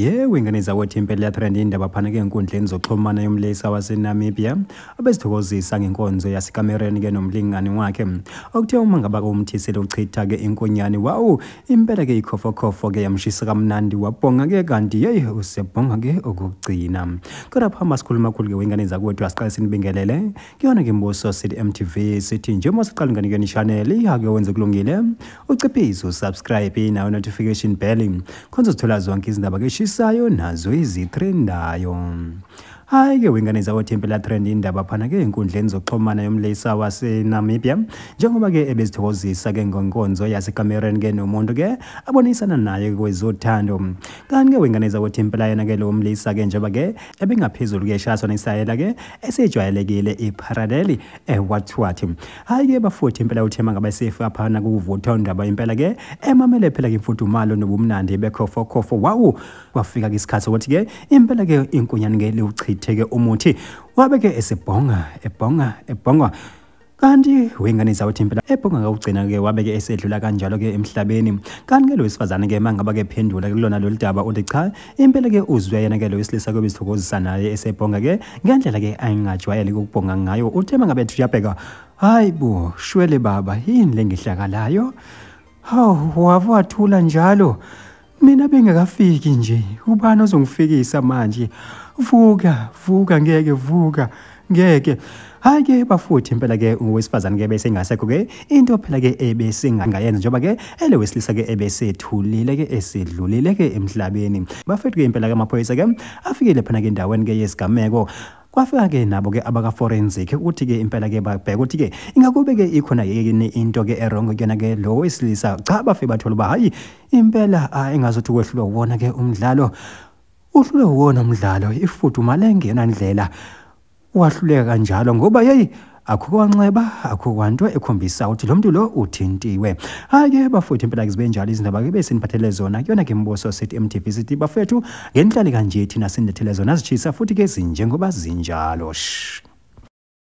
yewe ingane zakwethu impela iyathanda indaba phana-ke enkundleni zoxhumana yomlisa wasenamibia abezithokozisa ngenkonzo yasekamereni-ke nomlingani wakhe okuthe uma ngaba umthisile uchitha-ke inkonyane wawu impela-ke ikhofokhofo-ke yamshisa kamnandi wabhonga-ke kanti yeyi usebhonga-ke okugcina kodwa phamba sikhuluma khulu-ke wengane zakwethu asiqale sinibingelele kuyona ke mbuso sithi mtv sithi njengoba siqala inganekweni channel ihake wenze kulungile uciphize usubscribe nayo notification bell khonza uzithola zonke izindaba keshisayo nazo izitrendayo hayi ke wengane zakothi impela trend indaba phana ke enkundleni zokuxhumana yomlisa wasenamibia njengoba ke ebezithokozisa ke ngonkonzo yasekamereni ke nomuntu ke abonisana naye kwezothando kanti ke wengane zakothi impela yena ke lo mlisa ke njengoba ke ebingaphezulu ke shaswa nesayela ke esijwayelekile ipharadeli ewathwathi eh, hayi ke bafuthi impela uthema ngabesefu apha nakuvutha undaba impela ke emamele phela ke imfudumalo nobumnandi bekhofokhofo wawu kwafika ke isikhathi sokuthi ke impela ke inkunyane ngeliwuchithe ke umuthi wabe ke esebhonga ebhonga ebhonga kanti wengane zawuthi impela ebhonga kakugcina ke wabe ke esedlula kanjalo ke emhlabeni kanti ke lo wesifazane ke mangaba ke phendula kulona lolu daba uthi cha impela ke uzwe yena ke lo wesilisa ke besithokozisa naye esebhonga ke ngendlela ke ayingajwayele ukubhonga ngayo uthe mangabe ethi uyabheka hayi bo shwele baba yini lengihlakalayo hawu wavu wathula njalo Mina bengakafiki nje, ubani ozongifikisa manje? Vuka, vuka ngeke vuka. Ngeke. Hayi ke bafuthi impela ke owesifazane ke bese ngasekho ke into phela ke ebese ngangayenza njengoba ke ele wesilisa ke ebese thulile ke esedlulile ke emhlabeni. Bafethu ke impela ke amaphoyisa ke afikile phana ke endaweni ke yesigameko kwafika-ke nabo-ke abaka-forensic ukuthi-ke impela-ke babheke ukuthi-ke ingakube-ke ikhona yini into-ke erongo kuyona-ke lo wesilisa cha bafe bathola uba hhayi impela a engazothi kwehlulwa uwona ke umdlalo uhlulwe uwona umdlalo ifuduma lengena ndlela wahluleka kanjalo ngoba yeyi akukwanxeba akukwanto ekhombisa ukuthi lo mntu lo uthintiwe hhayi-ke bafowethu impela ke zibe njalo izindaba ke besiniphathele zona kuyona ke mbuso sithi mtv sithi bafethu ngenhlali kanje thina sinilethele zona zishisa futhi ke zinjengoba zinjalo sh